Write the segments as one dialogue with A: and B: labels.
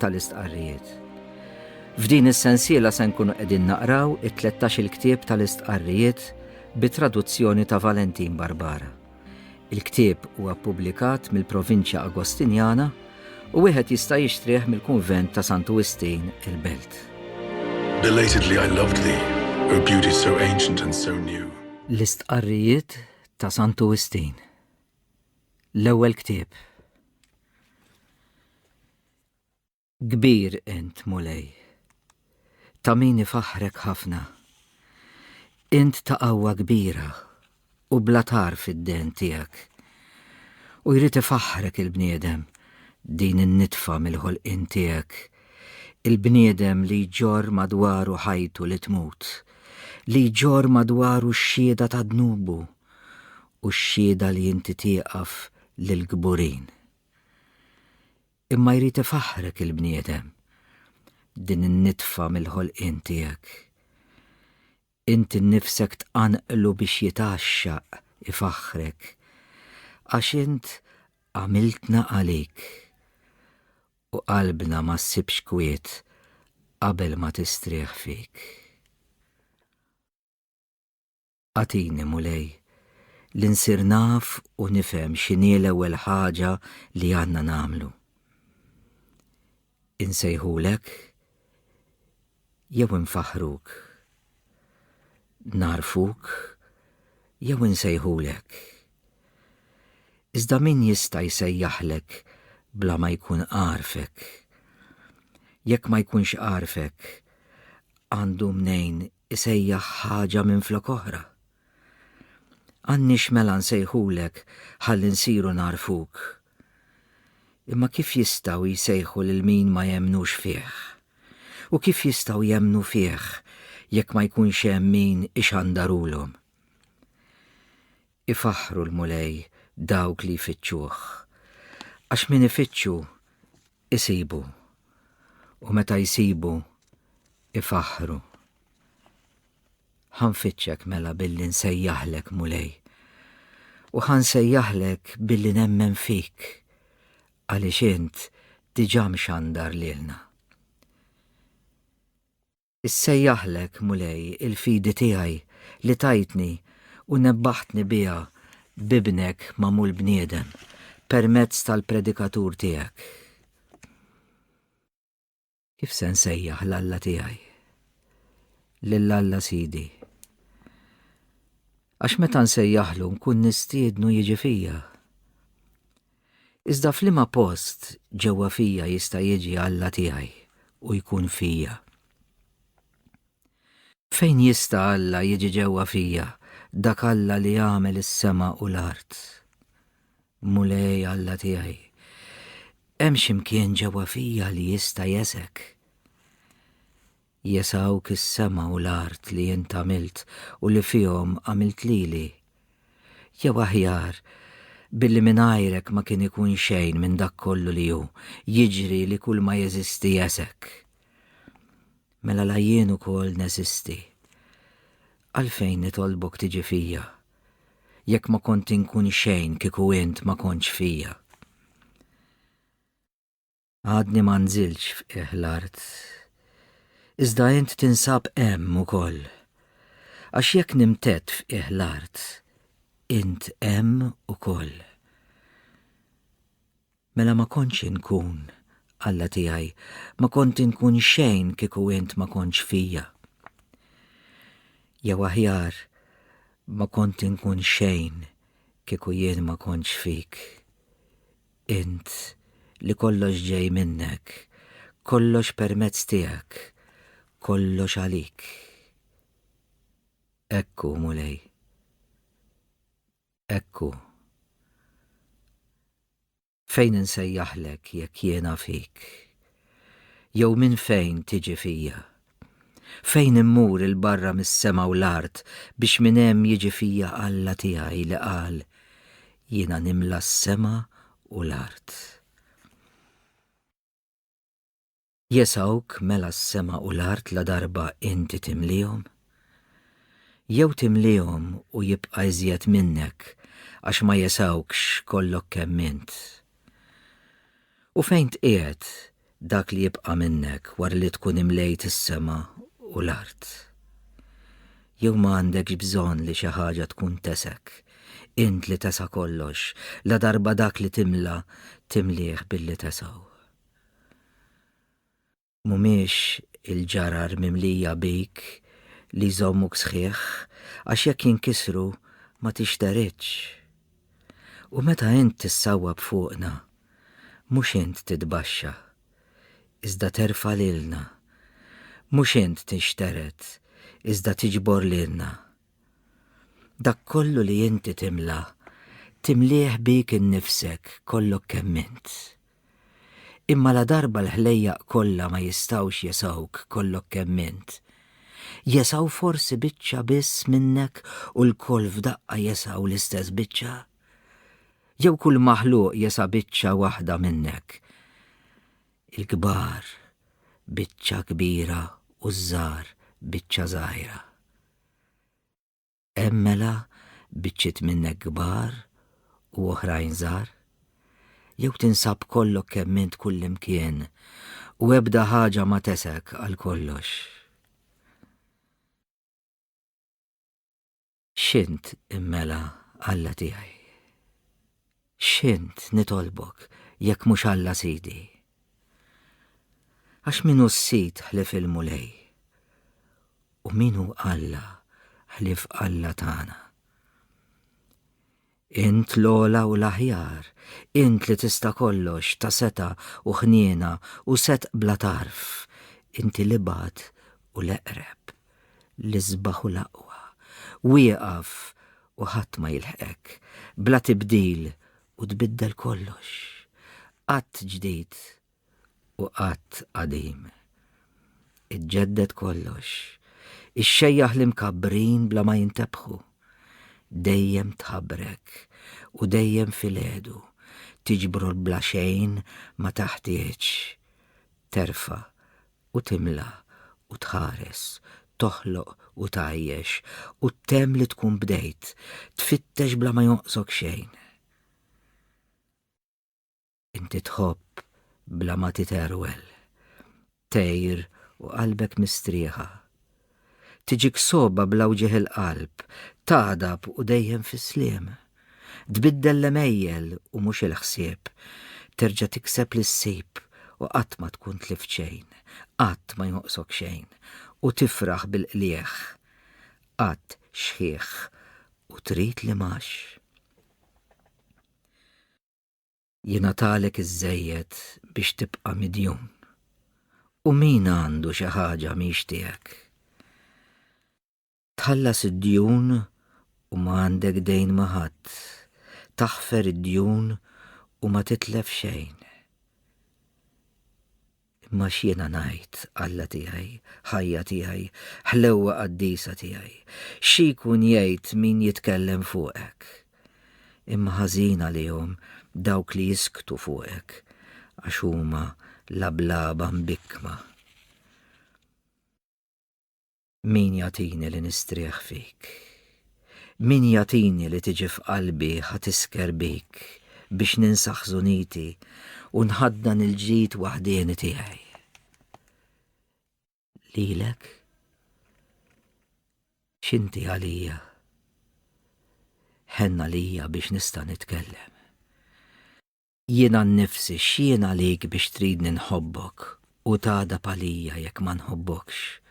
A: tal-istqarrijiet. F'din is-sensiela se nkunu qegħdin naqraw it-13 il-ktieb tal-istqarrijiet bi traduzzjoni ta' Valentin Barbara. Il-ktieb huwa ppubblikat mill-Provinċja Agostinjana u wieħed jista' jixtrih mill-Kunvent ta' Santu Wistin il-Belt. Belatedly
B: I loved thee, O beauty so ancient and so new. L-istqarrijiet
A: ta' Santu Wistin. l-ewwel ktieb. Kbir int, Mulej, ta' min ifaħħrek ħafna. Int ta' qawwa kbira u bla tar fid-den tiegħek. U jrid ifaħħrek il-bniedem din in-nitfa mill-ħolqien tiegħek, il-bniedem li jġorr madwaru ħajtu li tmut, li jġorr madwaru x-xhieda ta' dnubu u x-xhieda li inti tieqaf lill-kburin. Imma jrid ifaħħrek il-bniedem, din in-nitfa mill-ħolqien tiegħek. Inti nnifsek tqanqlu biex jitgħaxxaq, ifaħħrek, għax int għamiltna għalik. U qalbna ma ssibx kwiet qabel ma tistrieħ fik. Agħtini, Mulej, li nsir naf u nifhem x'inhi l-ewwel ħaġa li għandna nagħmlu. Insejħulek jew infaħħruk? Nagħrfuk jew insejħulek? Iżda min jista' jsejjaħlek bla ma jkun għarfek? Jekk ma jkunx għarfek, għandu mnejn isejjaħ ħaġa minflok oħra. Għandniex mela nsejħulek ħalli nsiru nagħrfuk. Imma kif jistgħu jsejħu lil min ma jemmnux fih? U kif jistgħu jemmnu fih jekk ma jkunx hemm min ixandarulhom? Ifaħħru l-Mulej dawk li jfittxuh, għax min ifittxu, isibu, u meta jsibu, ifaħħru. Ħa nfittxek mela billi nsejjaħlek Mulej, u ħa nsejjaħlek billi nemmen fik, għaliex int diġà mxandar lilna. Issejjaħlek, Mulej, il-fidi tiegħi, li tajtni u nebbaħtni biha b'Ibnek magħmul bniedem, permezz tal-predikatur tiegħek. Kif se nsejjaħ l-Alla tiegħi? Lil Alla Sidi. Għax meta nsejjaħlu nkun nistiednu jiġi fija. Iżda f'liema post ġewwa fija jista' jiġi Alla tiegħi u jkun fija? Fejn jista' Alla jiġi ġewwa fija, dak Alla li għamel is-sema u l-art? Mulej Alla tiegħi, hemm xi mkien ġewwa fija li jista' jesek? Jesawk is-sema u l-art li int għamilt u li fihom għamilt lili. Jew aħjar, billi mingħajrek ma kien ikun xejn minn dak kollu li hu, jiġri li kull ma jeżisti jesek. Mela la jien ukoll neżisti. Għalfejn nitolbok tiġi fija, jekk ma kont inkun xejn kieku int ma kontx fija? Għadni ma nżiltx f'qiegħ l-art. Iżda int tinsab hemm ukoll. Għax jekk nimtedd f'qiegħ l-art, int hemm ukoll. Mela ma kontx inkun, Alla tiegħi, ma kont inkun xejn kieku int ma kontx fija. Jew aħjar, ma kont inkun xejn kieku jien ma kontx fik. Int, li kollox ġej minnek, kollox permezz tiegħek, kollox għalik. Hekk hu, Mulej. Hekk hu. Fejn insejjaħlek jekk jiena fik? Jew minn fejn tiġi fija? Fejn immur 'il barra mis-sema u l-art biex minn hemm jiġi fija Alla tiegħi li qal, Jiena nimla s-sema u l-art. Jesawk mela s-sema u l-art ladarba inti timliehom? Jew timliehom u jibqa' iżjed minnek għax ma jesawkx kollok kemm int? U fejn tqiegħed dak li jibqa' minnek wara li tkun imlejt is-sema u l-art? Jew ma għandekx bżonn li xi ħaġa tkun tesek, int li tesa' kollox, ladarba dak li timla timlieh billi tesgħu? mhumiex il-ġarar mimlija bik li jżommuk sħiħ għax jekk jinkisru ma tixteridx. U meta int tissawwab fuqna, mhux int titbaxxa, iżda terfa' lilna. Mhux int tinxtered, iżda tiġbor lilna. Dak kollu li inti timla, timlieh bik innifsek kollok kemm int. Imma ladarba l-ħlejjaq kollha ma jistgħux jesgħuk kollok kemm int, jesgħu forsi biċċa biss minnek u lkoll f'daqqa jesgħu l-istess biċċa? Jew kull maħluq jesa' biċċa waħda minnek? Il-kbar biċċa kbira u ż-żgħar biċċa żgħira. Hemm mela biċċiet minnek kbar u oħrajn żgħar? Jew tinsab kollok kemm int kullimkien u ebda ħaġa ma tesek għal kollox? X'int immela Alla tiegħi? X'int nitolbok jekk mhux Alla Sidi? Għax min hu s-Sid ħlief il-Mulej? U min hu Alla ħlief Alla tagħna? Int l-ogħla u l-aħjar, int li tista' kollox, ta' setgħa u ħniena u setq bla tarf, inti l-ibgħad u l-eqreb. L-isbaħ u l-aqwa. Wieqaf u ħadd ma jilħqek. Bla tibdil u tbiddel kollox. Qatt ġdid u qatt qadim. Iġġedded kollox. Ixxejjaħ l-imkabbrin bla ma jintebħu. Dejjem tħabbrek u dejjem filgħedu tiġbru l-bla xejn ma taħtieġ. Terfa' u timla u tħares, toħloq u tgħajjex, u ttemm li tkun bdejt, tfittex bla ma jonqsok xejn. Inti tħobb bla ma titerwel, tgħir u qalbek mistrieħa, Tiġik sogħba bla wġigħ il-qalb, tagħdab u dejjem fis-sliem. Tbiddel l-għemejjel u mhux il-ħsieb, terġa' tikseb li ssib u qatt ma tkun tlift xejn, qatt ma jonqsok xejn u tifraħ bil-qligħ. Qatt xħiħ u trid li mgħax. jingħatalek iżżejjed biex tibqa' midjun. U min għandu xi ħaġa mhix tiegħek? Tħallas id-djun u ma għandek dejn ma' ħadd, taħfer id-djun u ma titlef xejn. Imma x'jiena ngħid, Alla tiegħi, ħajja tiegħi, ħlewwa qaddisa tiegħi? Xi jkun jgħid min jitkellem fuqek? Imma ħażin għalihom dawk li jisktu fuqek, għax huma lablaba mbikkma. Min jagħtini li nistrieħ fik? Min jagħtini li tiġi f'qalbi ħa tisker bik biex ninsa ħżuniti u nħaddan il-ġid waħdieni tiegħi? Lilek? X'inti għalija? Ħenna lija biex nista' nitkellem. Jiena nnifsi x'jien għalik biex tridni nħobbok u tagħdab għalija jekk ma nħobbokx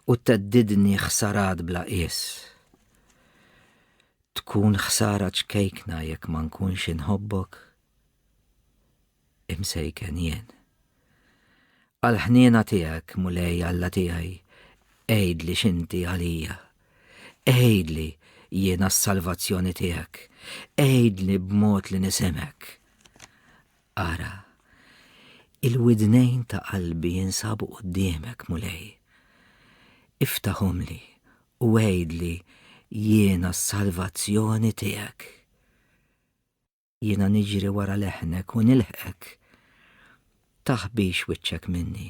A: u theddidni ħsarat bla qies. Tkun ħsara ċkejkna jekk ma nkunx inħobbok? Imsejken jien. Għall-ħniena tiegħek, Mulej Alla tiegħi, għidli x'inti għalija. Għidli jiena s-salvazzjoni tiegħek, għidli b'mod li nisimgħek. Ara, il-widnejn ta' qalbi jinsabu quddiemek, Mulej. Iftaħhomli u għidli jiena s-salvazzjoni tiegħek. Jiena niġri wara leħnek u nilħqek. Taħbix wiċċek minni.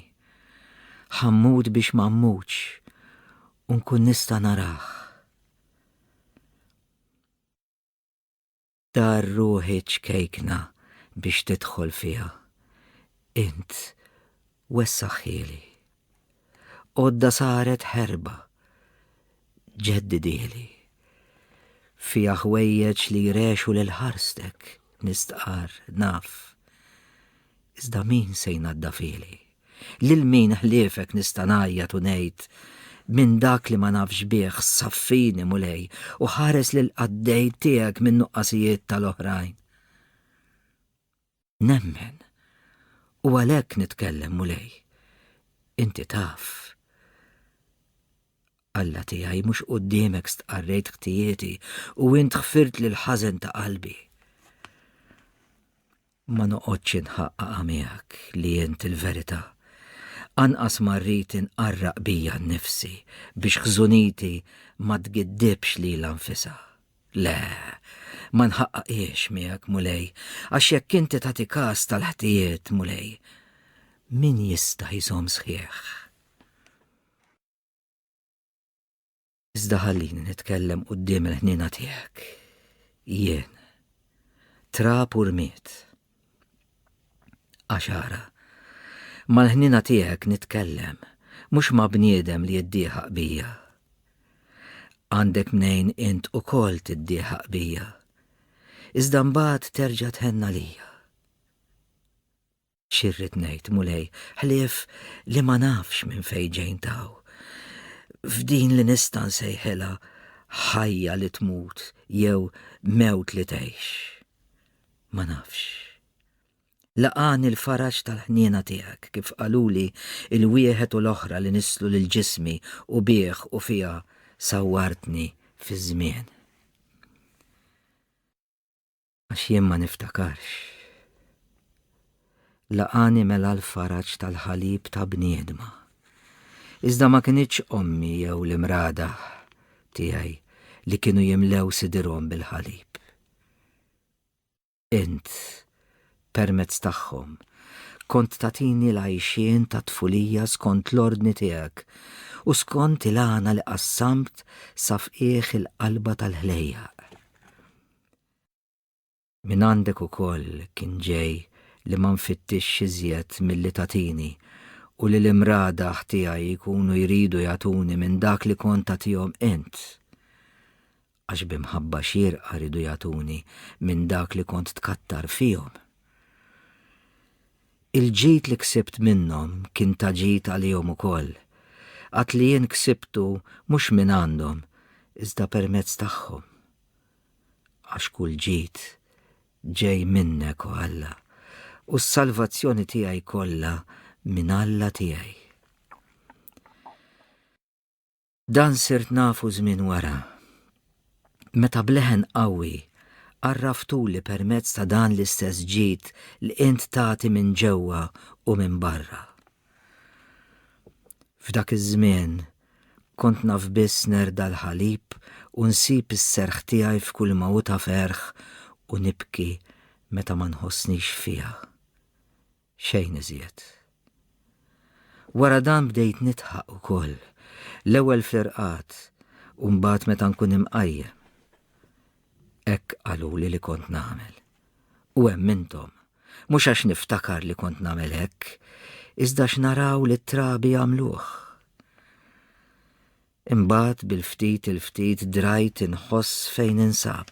A: Ħa mmut biex ma mmutx u nkun nista' narah. Dar ruħi ċkejkna biex tidħol fiha. Int wessaħħieli. Għodda saret ħerba, ġeddidieli. Fija ħwejjeġ li jrexu lil ħarstek, nistqar, naf. Iżda min se jnadda fili? Lil min ħliefek nista' ngħajjat u ngħid minn dak li ma nafx bih saffini mulej u ħares lil qaddej tiegħek minn nuqqasijiet tal-oħrajn. Nemmen. U għalhekk nitkellem, Mulej. Inti taf. Alla tiegħi mhux quddiemek stqarrejt ħtijieti u int ħfirt lil ħażen ta' qalbi. Ma noqgħodx inħaqqaqa miegħek li int il-verità. Anqas ma rrid inqarraq bija nnifsi biex ħżuniti ma tgiddibx lilha nfisha. Le, ma nħaqqaqiex miegħek, Mulej, għax jekk inti tagħti każ tal-ħtijiet, Mulej, min jista' jżomm sħiħ? Iżda ħallini nitkellem quddiem il-ħniena tiegħek. Jien, trab u rmiet, Għaxara. Mal-ħnina tiegħek nitkellem, mhux ma' bniedem li jiddieħaq bija. Għandek mnejn int ukoll tiddieħaq bija. Iżda mbagħad terġa' tħenna lija. Xirrid ngħid, Mulej, ħlief li ma nafx minn fejn ġejn taw. F'din li nista' nsejħilha ħajja li tmut jew mewt li tgħix. Ma nafx. Laqagħni l-faraġ tal-ħniena tiegħek kif qaluli l-wieħed u l-oħra li nisslu lil ġismi u bih u fiha sawwartni fiż-żmien. Għax jien ma niftakarx. Laqagħni mela l-faraġ tal-ħalib ta' bniedma. Iżda ma kinitx ommi jew l-imrada tiegħi li kienu jimlew sidirhom bil-ħalib. Int, permezz tagħhom, kont tagħtini l-għajxien tat-tfulija skont l-ordni tiegħek u skont il-għana li qassamt sa fqiegħ il-qalba tal-ħlejjaq. Mingħandek ukoll kien ġej li ma nfittixx iżjed milli tagħtini u li l-imradaħ tiegħi jkunu jridu jagħtuni minn dak li kont tagħtihom int. għax bi mħabba xierqa riedu jagħtuni minn dak li kont tkattar fihom. Il-ġid li ksibt minnhom kien ta' ġid għalihom ukoll, għad li jien ksibtu mhux minn għandhom, iżda permezz tagħhom. Għax kull ġid ġej minnek, o Alla, u s-salvazzjoni tiegħi kollha minn Alla tiegħi. Dan sirt nafu żmien wara, meta b'leħen qawwi għarraftuli permezz ta' dan l-istess ġid li int tagħti minn ġewwa u minn barra. F'dak iż-żmien kont naf biss nerda l-ħalib u nsib is-serħ tiegħi f'kull mawta ferħ u nibki meta ma nħossnix fiha. Xejn iżjed. Wara dan bdejt nidħaq ukoll, l-ewwel fl-irqad u mbagħad meta nkun imqajjem. Hekk qaluli li kont nagħmel. U hemm intom, mhux għax niftakar li kont nagħmel hekk, iżda x'naraw li t-trabi jagħmluh. Imbagħad bil-ftit il-ftit drajt inħoss fejn ninsab.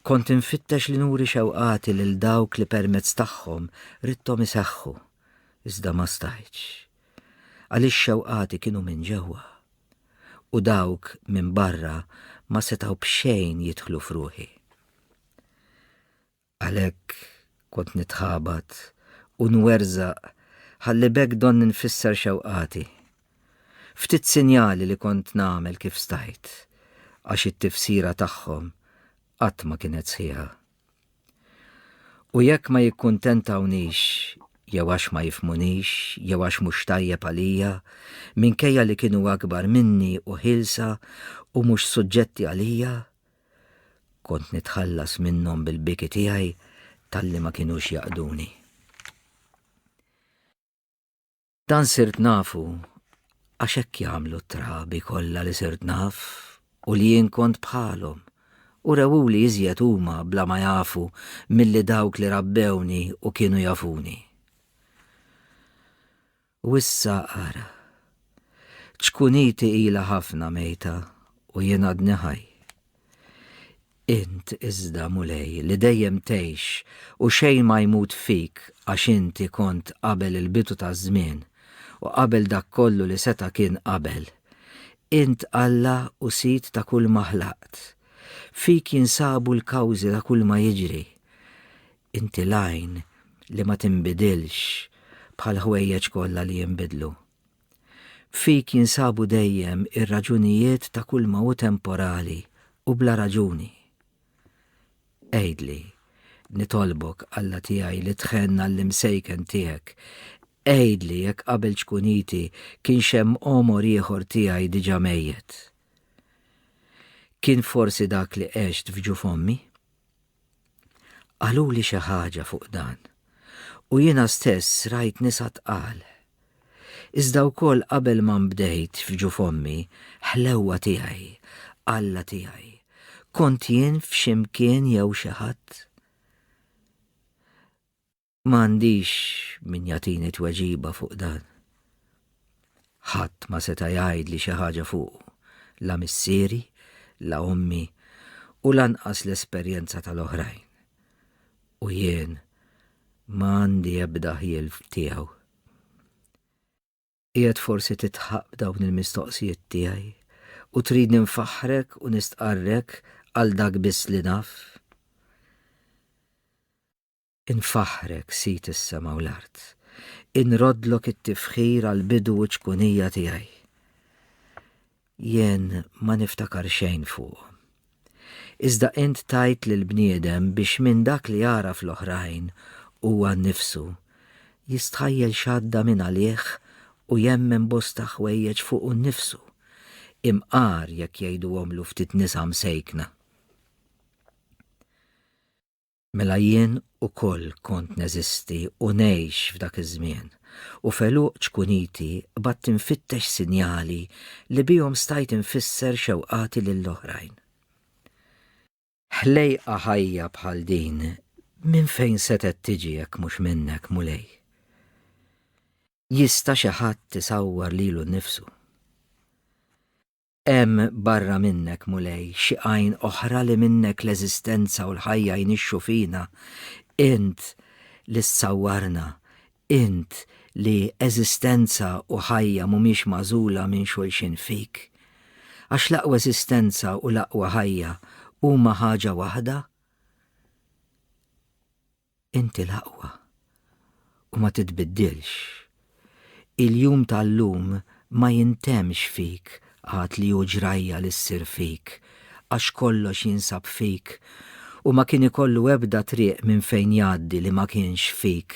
A: Kont infittex li nuri xewqati lil dawk li permezz tagħhom ridthom iseħħu, iżda ma stajtx. Għaliex xewqati kienu minn ġewwa. U dawk minn barra ma setgħu b'xejn jidħlu f'ruħi. Għalhekk kont nitħabat u nwerżaq ħalli b'hekk donni nfisser xewqati. Ftit sinjali li kont nagħmel kif stajt, għax it-tifsira tagħhom qatt ma kienet sħiħa. U jekk ma jikkuntentawnix jew għax ma jifhmunix jew għax mhux tajjeb għalija, minkejja li kienu akbar minni u ħielsa u mhux suġġetti għalija, Kont nitħallas minnhom bil-biki tiegħi talli ma kinux jaqduni. Dan sirt nafu għax hekk jagħmlu t-trabi kollha li sirt naf u li jien kont bħalhom u rewuli iżjed huma bla ma jafu milli dawk li rabbewni u kienu jafuni. U issa ara, ċkuniti ilha ħafna mejta u jien għadni ħaj. Int iżda, Mulej, li dejjem tgħix u xejn ma jmut fik għax inti kont qabel il-bidu taż-żmien u qabel dak kollu li seta' kien qabel, int Alla u Sid ta' kulma ħlaqt. Fik jinsabu l-kawżi ta' kulma jiġri. Inti l-għajn li ma tinbidilx bħal ħwejjeġ kollha li jinbidlu. Fik jinsabu dejjem ir-raġunijiet ta' kull ma hu temporali u bla raġuni. Għidli, nitolbok, Alla tiegħi li tħenn għall-imsejken tiegħek, għidli jekk qabel ċkuniti kienx hemm għomor ieħor tiegħi diġà mejjet. Kien forsi dak li għext f'ġuf ommi? Qaluli xi ħaġa fuq dan, u jiena stess rajt nisa tqal. Iżda wkoll qabel ma nbdejt f'ġuf ommi, ħlewwa tiegħi, Alla tiegħi, kont jien f'xi mkien jew xi ħadd? Ma għandix min jagħtini tweġiba fuq dan. Ħadd ma seta' jgħidli xi ħaġa fuqu, la missieri, la ommi u lanqas l-esperjenza tal-oħrajn. U jien ma għandi ebda ħjiel tiegħu. Qiegħed forsi titħaq b'dawn il-mistoqsijiet tiegħi u tridni nfaħħrek u nistqarrek għal dak biss li naf? Infaħħrek, Sid is-sema u l-art. Inroddlok it-tifħir għall-bidu u ċ-ċkunija tiegħi. Jien ma niftakar xejn fuqhom. Iżda int tajt lil bniedem biex minn dak li jara fl-oħrajn huwa nnifsu jistħajjel x'għadda minn għalih u jemmen bosta ħwejjeġ fuqu nnifsu, imqar jekk jgħiduhomlu ftit nisa msejkna. Mela jien ukoll kont neżisti u ngħix f'dak iż-żmien, u f'għeluq ċkuniti qbadt infittex sinjali li bihom stajt infisser xewqati lil oħrajn. Ħlejqa ħajja bħal din minn fejn setgħet tiġi jekk mhux minnek, Mulej? Jista' xi ħadd isawwar lilu nnifsu? Hemm barra minnek, Mulej, xi għajn oħra li minnek l-eżistenza u l-ħajja jnixxu fina, int li ssawwarna, int li eżistenza u ħajja mhumiex magħżula minn xulxin fik? Għax l-aqwa eżistenza u l-aqwa ħajja huma ħaġa waħda? Inti l-aqwa u ma titbiddilx. Il-jum tal-lum ma jintemmx fik għad li hu ġrajja li ssir fik għax kollox jinsab fik u ma kien ikollu ebda triq minn fejn jgħaddi li ma kienx fik.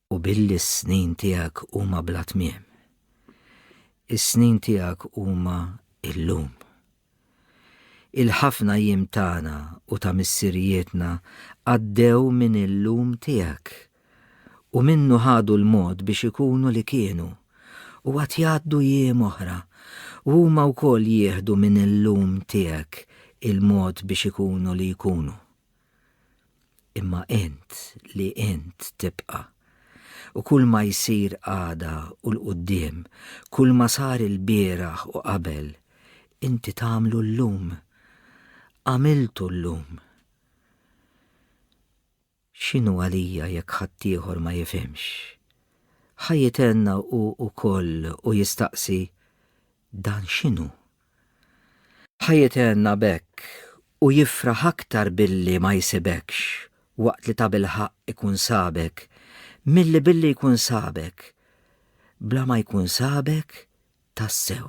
A: U billi s-snin tiegħek huma bla tmiem. Is-snin tiegħek huma illum. Il-ħafna jiem tagħna u ta' missirijietna għaddew minn illum tiegħek u minnu ħadu l-mod biex ikunu li kienu u għad jgħaddu jiem oħra u huma wkoll jieħdu minn illum tiegħek il-mod biex ikunu li jkunu. Imma int li int tibqa'. U kull ma jsir għada u 'l quddiem, kull ma sar ilbieraħ u qabel, inti tagħmlu llum. Għamiltu llum. X'inhu għalija jekk ħaddieħor ma jifhimx? Ħa jitenna hu wkoll u jistaqsi, Dan x'inhu? Ħaj itenna b'hekk u jifraħ aktar billi ma jsibekx waqt li tabilħaqq ikun sabek milli billi jkun sabek bla ma jkun sabek tassew.